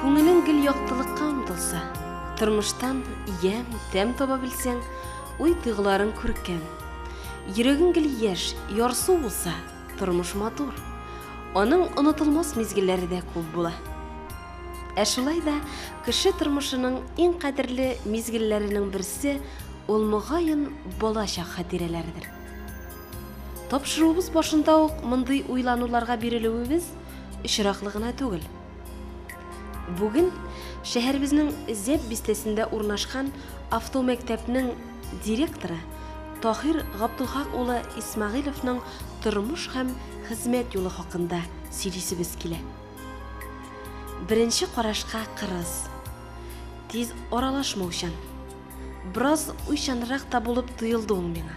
Күңелең гел яктылыкка омтылса, тормыштан ямь, тәм таба белсәң, уй тыгыларын күркәм. Йөрәгең гел яшь, ярсу булса, тормыш матур. Аның онытылмас мизгелләре дә күп була. Ә шулай да кеше тормышының иң кадерле мизгелләренең берсе ул мөгаен балачак хатирәләрдер. Тапшыруыбыз башында ук мондый уйлануларга бирелүебез очраклы гына түгел. Бүген шәһәребезнең Зәп бистәсендә урнашкан автомәктәпнең директоры Таһир Габдулхак улы Исмәгыйловның тормыш һәм хезмәт юлы хакында сөйлисебез килә. Беренче карашка кырыс, тиз аралашмаучан, бераз уйчанрак та булып тоелды ул миңа.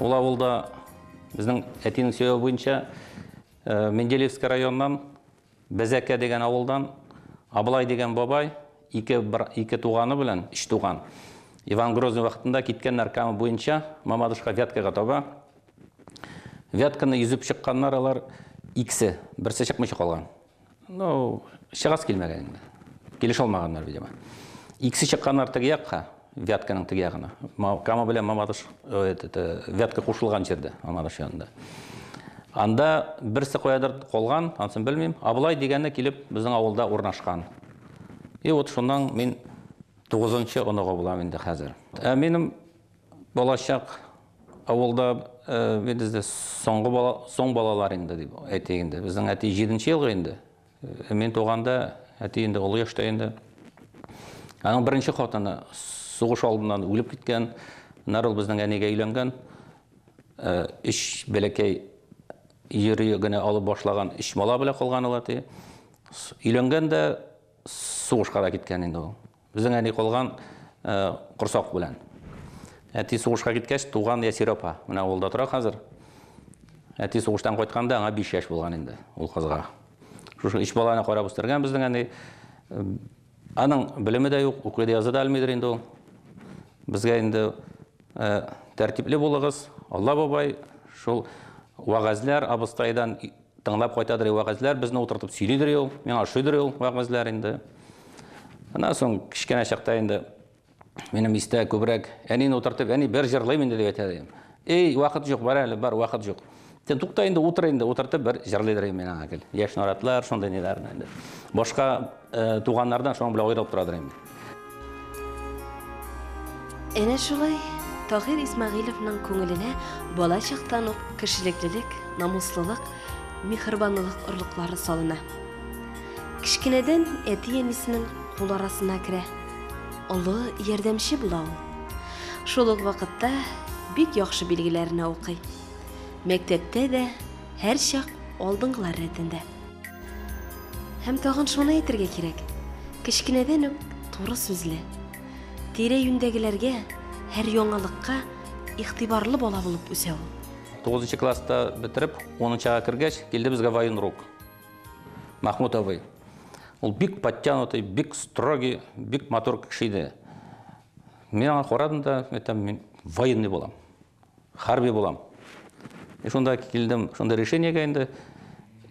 Ул авылда безнең әтинең сөйләве буенча э, Менделеевск районыннан Бәзәкә дигән авылдан Абылай дигән бабай ике, бір, ике туганы белән, үч туган. Иван Грозный вакытында киткән наркамы буенча Мамадышка Вяткага таба. Вятканы йөзеп чыкканнар алар икесе, берсе чыкмыйча калган. Ну, чыгасы килмәгән инде. Килешә алмаганнар, видимо. Икесе чыкканнар теге якка, Вятканың теге ягына. Кама белән Мамадыш, это, Вятка кушылган җирдә, Мамадыш янында. Анда берсе каядыр калган, ансын белмим. Абылай дигәне килеп безнең авылда урнашкан. И вот шуннан мин 9 нчы оныгы булам инде хәзер. Ә минем Балачак авылда без дә соңгы бала, соң балалар инде дип әйтик инде. Безнең әти җиденче елгы инде. Мин туганда әти инде олы яшьтә инде. Аның беренче хатыны сугыш алдыннан үлеп киткән. Нәр ул безнең әнигә өйләнгән. Өч бәләкәй йөри генә алып башлаган өч бала белән калган ул әти. Өйләнгән дә сугышка да киткән инде ул. Безнең әни калган корсак белән. Әти сугышка киткәч, туган Ясир апа. Менә авылда тора хәзер. Әти сугыштан кайтканда аңа 5 яшь булган инде ул кызга. Шушы өч баланы карап үстергән безнең әни. Аның белеме дә юк, укый да яза да алмыйдыр инде ул. Безгә инде тәртипле булыгыз, Алла бабай шул вагазләр абыстайдан Тыңлап кайтадыр вәгазьләр, безне утыртып сөйлидер ул, миңа ошыйдыр ул вәгазьләр инде. Аннан соң кечкенә чакта инде минем истә күбрәк әнине утыртып, әни бер җырлыйм инде дип әйтә идем. Эй, вакыт юк, бар әле, бар, вакыт юк. Сен тукта инде, утыр инде, утыртып бер җырлыйдыр миңа гел. Яшь наратлар, шундый ниләрне инде. Башка Э, туганнардан шуның белән аерылып торадыр инде. Әнә шулай Тагир Исмәгыйловның күңеленә бала чактан ук кешелеклелек, намуслылык, михырбанлылык орлыклары салына. Кечкенәдән әти-әнисенең кул арасына керә. Олы ярдәмче була ул. Шул ук вакытта бик яхшы билгеләрне укый. Мәктәптә дә һәрчак алдынгылар рәтендә. Һәм тагын шуны әйтергә кирәк, кечкенәдән үк туры сүзле, тирә-юньдәгеләргә, һәр яңалыкка игътибарлы бала булып үсә ул. Тугызынчы класста бетереп, унынчыга кергәч, килде безгә военрук Махмут абый. Ул бик подтянутый, бик строгий, бик матур кеше иде. Мин аңа карадым да, әйтәм, мин военный булам. Хәрби булам. И шунда килдем, шунда решениегә инде.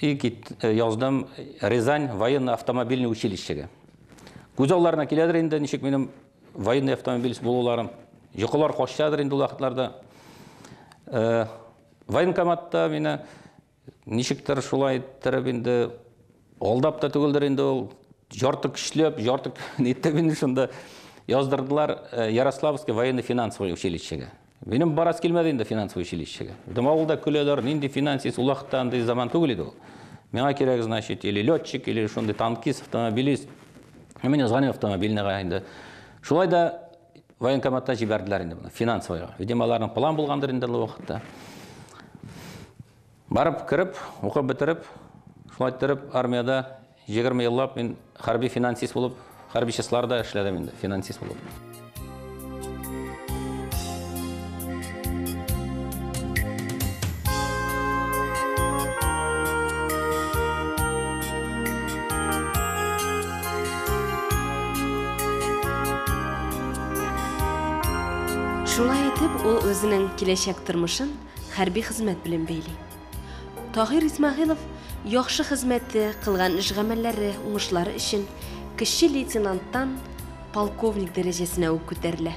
И кит, э, яздым Рязань военно-автомобильный училищега. Күз алларына киләдер инде, ничек минем военный автомобиль булуларым. Йокылар качадыр инде ул вакытларда. Э, военкоматта мине Ничектер шулай иттереп инде алдап та түгелдер инде ул ярты көчләп, ярты итеп инде шунда яздырдылар э, Ярославский военно-финансовый училищега. Минем барас килмәде инде финансовый училищега. Дым авылда көләләр, нинди финансист, улакта андый заман түгел иде ул. Миңа кирәк, значит, или летчик, или шундый танкист, автомобилист. Мин язган автомобильныйга инде. Шулай да военкоматта җибәрделәр инде моны, финансовыйга. Видимо, аларның план булгандыр инде ул вакытта. Барып кереп, укып бетереп, шулай торып армиядә 20 еллап мин хәрби финансист булып, хәрби частьларда эшләдем инде, финансист булып. Шулай итеп, ул үзенең киләчәк тормышын хәрби хезмәт белән бәйли. Тагир Исмагыйлов яхшы хезмәте, кылган эш гамәлләре, уңышлары өчен кече лейтенанттан полковник дәрәҗәсенә үк күтәрелә.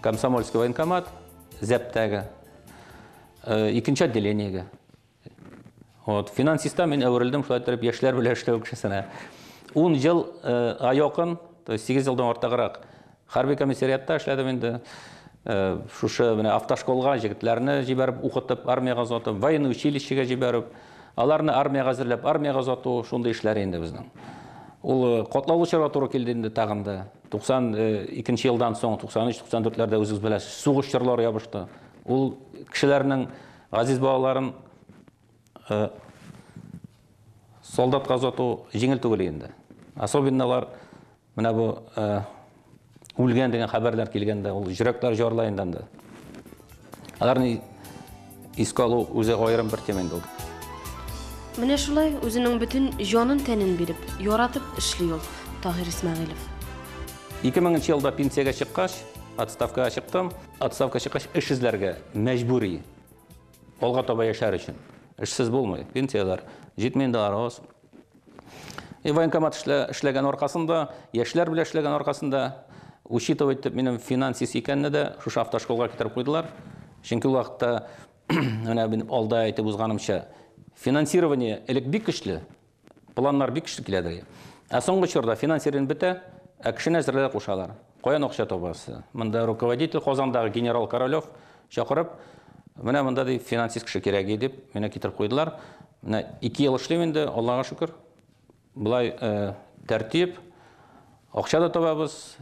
Комсомольский военкомат, зәптәге, э, икенче отделениеге. Вот, финансистан мин әверелдем, шулай итеп, яшьләр белән эшләү кешесенә. Ун ел э, якын, то есть 8 елдан артыграк хәрби комиссариатта эшләдем инде. Э, шушы менә автошколга җегетләрне җибәреп укытып, армиягә озатып, военный училищега җибәреп, аларны армиягә әзерләп, армиягә озату, шундый эшләр инде безнең. Ул э, котлаулы чорга туры килде инде тагын да. 92 нче елдан соң, 93-94-ләрдә үзегез беләсез, сугыш чорлары ябышты. Ул кешеләрнең газиз балаларын солдатка озату җиңел түгел инде. Особенно алар менә бу үлгән дигән хәбәрләр килгәндә, ул җөрәкләр җарлай инде анда. Аларны искә алу үзе аерым бер тема инде ул. Менә шулай үзенең бөтен җанын-тәнен биреп, яратып эшли ул Таһир Исмәгыйлев. 2000 елда пенсиягә чыккач, отставкага чыктым. Отставка чыккач эш эзләргә мәҗбүри. Алга таба яшәр өчен. Эшсез булмый. Пенсияләр җитми инде, аргаз. И военкомат эшләгән аркасында, яшьләр белән эшләгән аркасында, учитывать итеп, минем финансист икәнне дә шушы автошколга китереп куйдылар. Чөнки ул вакытта, менә мин алда әйтеп узганымча, финансирование элек бик көчле, планнар бик көчле килә иде. Ә соңгы чорда финансирование бетә, ә кешене әзерләргә кушалар. Каян акча табасы? Монда руководитель Казандагы генерал Королев Чакырып, менә монда ди финансист кеше кирәк ди дип, менә китереп куйдылар. Менә 2 ел эшлим инде, Аллага шөкер. Болай тәртип, акча да табабыз,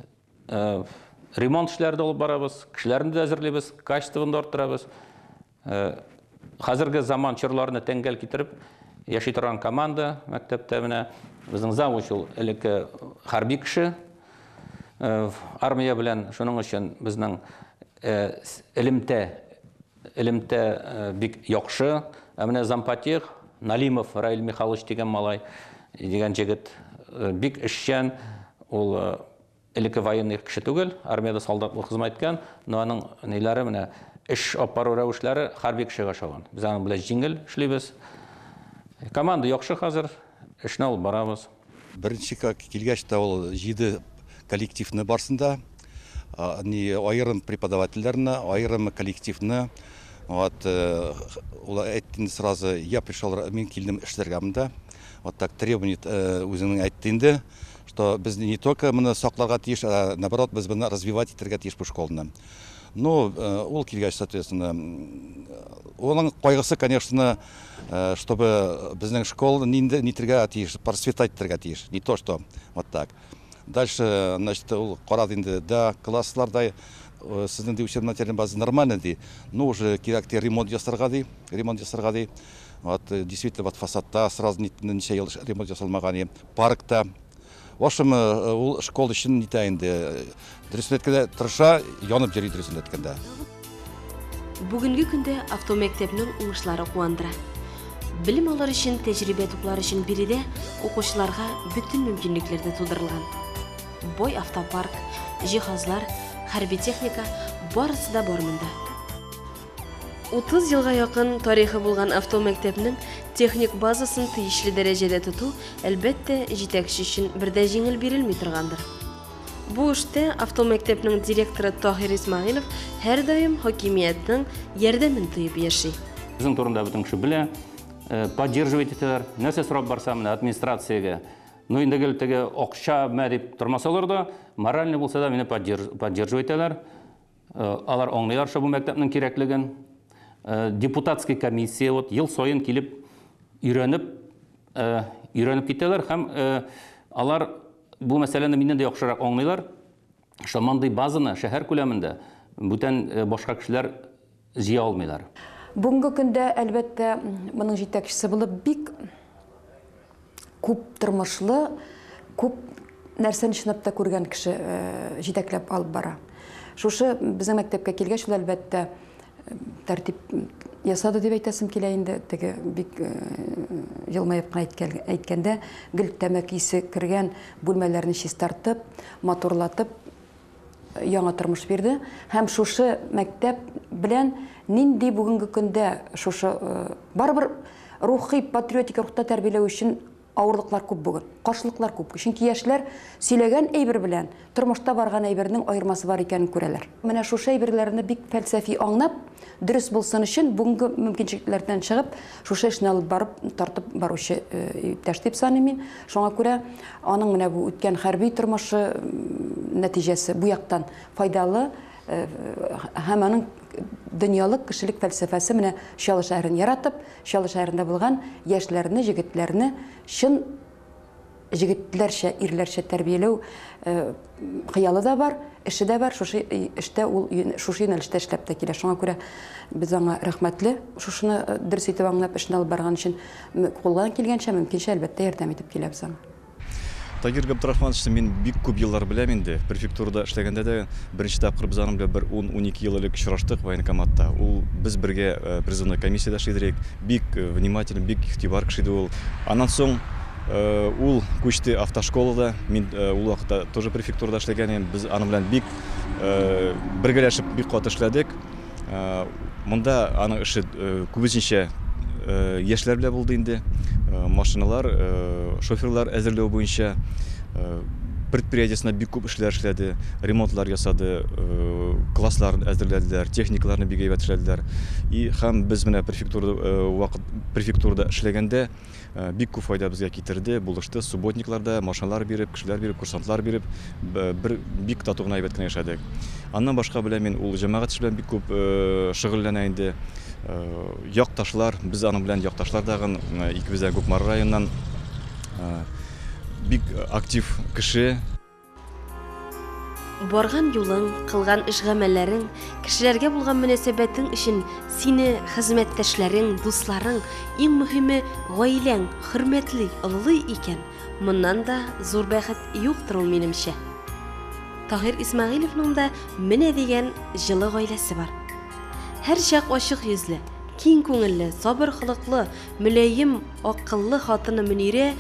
ремонт эшләре дә алып барабыз, кешеләрне дә әзерлибез, качествоны да арттырабыз. Хәзерге заман чорларына тәңгәл китереп яши торган команда мәктәптә менә. Безнең завуч ул элекке хәрби кеше. Армия белән шуның өчен безнең Э, элемтә элемтә э, бик яхшы ә менә зампотех налимов раил михайлович дигән малай дигән җегет э, бик эшчән ул элекке военный кеше түгел армиядә солдат булып хезмәт иткән но аның ниләре менә эш алып бару рәвешләре хәрби кешегә ошаган без аның белән җиңел эшлибез команда яхшы хәзер эшне алып барабыз Беренче килгәч тә ул җиде коллективны барсын да ни аерым преподавательләрне, аерым коллективны вот ул әйтте инде сразу, я пришел, мин килдем эшләргә монда. Вот так требование үзенең әйтте инде, что без не только моны сакларга тиеш, а наоборот, без моны развивать итәргә тиеш бу школаны. Ну, ул килгәч, соответственно, оның кайгысы, конечно, Чтобы безнең школ нинди нитергә тиеш, процветать итәргә тиеш, не то что вот так. Дальше, значит, ул карады инде, да, класслар да сезнең ди учебно материальный база нормально ди, но уже кирәк ди ремонт ясарга ди, ремонт ясарга ди. Вот действительно вот фасадта сразу ничә ел ремонт ясалмаган, паркта В общем, ул школ өчен нитә инде. Дөресен әйткәндә, тырыша, янып йөри дөресен әйткәндә. Бүгенге көндә автомәктәпнең уңышлары куандыра. Белем алыр өчен тәҗрибә туплар өчен биредә укучыларга бөтен мөмкинлекләр дә тудырылган. Бай автопарк, җиһазлар, хәрби техника, барысы да бар монда. Утыз елга якын тарихы булган автомәктәпнең техник базасын тиешле дәрәҗәдә тоту, әлбәттә, җитәкче өчен бер дә җиңел бирелми торгандыр. Бу эштә автомәктәпнең директоры Таһир Исмәгыйлов һәрдаим хакимиятнең ярдәмен тоеп яши. Безнең турында бөтен кеше белә, э, поддерживать итәләр. Нәрсә сорап барса, менә администрациягә. Ну, инде гел теге акча мә дип тормасалар да, морально булса да мине поддерживать итәләр. Алар аңлыйлар шул бу мәктәпнең кирәклеген. Депутатский комиссия вот ел саен килеп өйрәнеп, өйрәнеп китәләр һәм алар бу мәсьәләне миннән дә яхшырак аңлыйлар. Шул мондый базаны шәһәр күләмендә бүтән башка кешеләр җыя алмыйлар. Бүгенге көндә, әлбәттә, моның җитәкчесе булып бик күп тормышлы, күп нәрсәне чынлап та күргән кеше э, җитәкләп алып бара. Шушы безнең мәктәпкә килгәч ул әлбәттә э, тәртип ясады дип әйтәсем килә инде. Теге бик э, елмаеп кына әйткәндә гел тәмәке исе кергән бүлмәләрне чистартып, матурлатып яңа тормыш бирде һәм шушы мәктәп белән нинди бүгенге көндә шушы э, барыбер рухи патриотик рухта тәрбияләү өчен авырлыклар күп бүген каршылыклар күп чөнки яшьләр сөйләгән әйбер белән тормышта барган әйбернең аермасы бар икәнен күрәләр менә шушы әйберләрне бик фәлсәфи аңнап Дөрес булсын өчен бүгенге мөмкинчелекләрдән чыгып, шушы эшне алып барып, тартып баручы иптәш дип саныйм мин. Шуңа күрә аның менә бу үткән хәрби тормышы нәтиҗәсе бу яктан файдалы һәм аның дөньялык кешелек фәлсәфәсе менә Чаллы шәһәрен яратып, Чаллы шәһәрендә булган яшьләрне, җегетләрне чын Җегетләрчә, ирләрчә тәрбияләү хыялы да бар, эше дә бар. Шушы эштә ул шушы юнәлештә эшләп тә килә. Шуңа күрә без аңа рәхмәтле. Шушыны дөрес итеп аңлап эшне алып барган өчен кулдан килгәнчә, мөмкинчә, әлбәттә, ярдәм итеп киләбез аңа. Тагир Габдрахмановичны мин бик күп еллар беләм инде. Префектурада эшләгәндә дә беренче тапкыр без аның белән бер ун-унике ел элек очраштык военкоматта. Ул без бергә призывной комиссиядә эшли идек. Бик внимательный, бик игътибар кеше иде ул. Аннан соң Ул күчте автошколада. Мин ул вакытта тоже префектурада эшләгән идем. Без аның белән бик бергәләшеп бик каты эшләдек. Монда аның эше күбесенчә яшьләр белән булды инде. Машиналар, шоферлар әзерләү буенча предприятиесенә бик күп эшләр эшләде, ремонтлар ясады, класслар әзерләделәр, техникаларны бик әйбәт эшләделәр. И һәм без менә префектурада вакыт префектурада эшләгәндә, Бик күп файда безгә китерде, булышты. Субботниклар да машиналар биреп, кешеләр биреп, курсантлар биреп, бер бик тату гына әйбәт кенә яшәдек. Аннан башка белән мин ул җәмәгать эше белән бик күп шөгыльләнә инде. Якташлар, без аның белән якташлар тагын икебез дә Кукмара районыннан бик актив кеше. Барган юлың, кылган эш-гамәлләрең, кешеләргә булган мөнәсәбәтең өчен сине хезмәттәшләрең, дусларың, иң мөһиме, гаиләң хөрмәтли, олылый икән, моннан да зур бәхет юктыр ул, минемчә. Таһир Исмәгыйлевның да менә дигән җылы гаиләсе бар. Һәрчак ачык йөзле, киң күңелле, сабыр холыклы, мөлаем, акыллы хатыны Мөнирә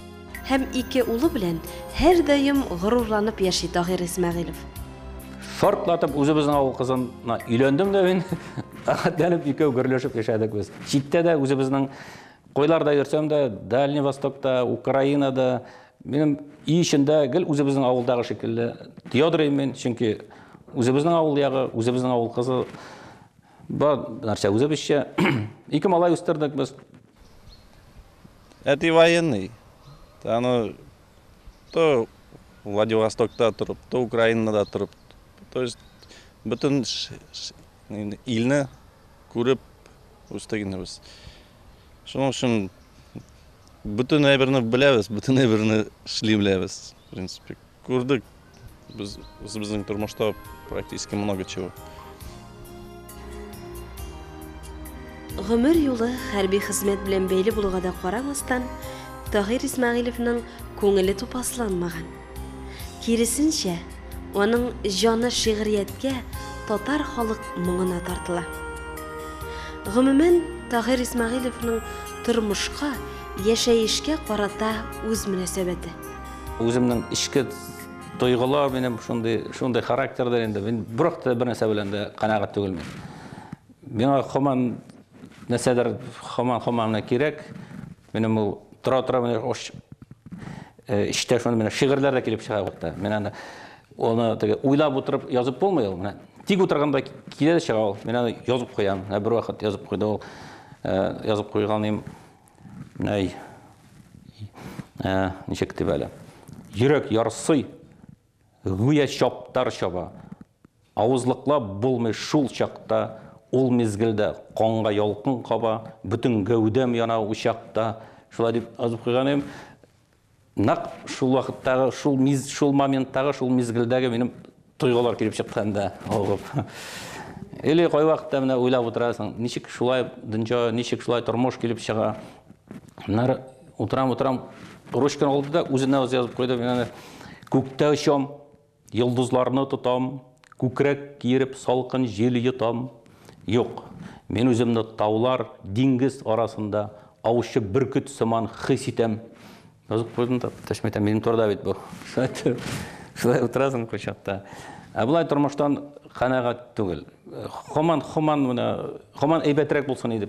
Һәм ике улы белән һәрдаим горурланып яши Тагир Исмәгыйлов. Шартлатып үзебезнең авыл кызына өйләндем дә мин. Рәхәтләнеп икәү гөрләшеп яшәдек без. Читтә дә үзебезнең койларда йөрсәм дә, Дальний Востокта, Украинада, минем өй эчендә гел үзебезнең авылдагы шикелле ядрыйм мин, чөнки үзебезнең авыл ягы, үзебезнең авыл кызы бар нәрсә үзебезчә. Ике малай үстердек без. Әти военный. Аны то Владивостокта торып, то Украинада торып. То есть бөтен илне күреп үстек инде без. Шуның өчен бөтен әйберне беләбез, бөтен әйберне эшли беләбез. принципе, күрдек без үзебезнең тормышта практически много чего. Гомер юлы хәрби хезмәт белән бәйле булуга да карамастан, Тагир Исмәгыйлевның күңеле тупасланмаган. Киресенчә, аның җаны шигърияткә, татар халык моңына тартыла. Гомумән, Тагир Исмәгыйлевның тормышка, яшәешкә карата үз мөнәсәбәте. Үземнең эчке тойгылар минем шундый шундый характердер инде. Мин бирок та бернәрсә белән дә канәгать түгелмен. Миңа хаман нәрсәдер хаман хаманны кирәк. Минем ул тора тора менә ош эчтә шуны менә шигырьләр дә килеп чыга бакта. Мин аны аны теге уйлап утырып язып булмый ул. Менә тик утырганда килә дә чыга ул. Мин аны язып куям. Ә бер вакыт язып куйды ул. Язып куйганым Әй. Ә, ничек дип әле? Йөрәк ярсый. Гүя чаптар чаба. Авызлыклап булмый шул чакта, ул мизгелдә канга ялкын каба, бөтен гәүдәм яна учакта. Шулай дип азып куйган идем. Нәкъ шул вакыттагы, шул миз, шул моменттагы, шул мизгелдәге минем тойгылар килеп чыкты инде, авып. Или кайвакытта менә уйлап утырасың, ничек шулай дөнья, ничек шулай тормыш килеп чыга. Нәр утырам, утырам, ручканы алды да үзенә үзе язып куйды, менә күктә очам, Йолдызларны тотам, Күкрәк киереп салкын җил йотам. Юк, мин үземне таулар, диңгез арасында аучы бөркет сыман хис итәм. Язып куйдым да, төшмә итәм, минем турыда бит бу. Шулай утырасың кочакта. Ә болай тормыштан канәгать түгел. Хаман, хаман менә, хаман әйбәтрәк булсын иде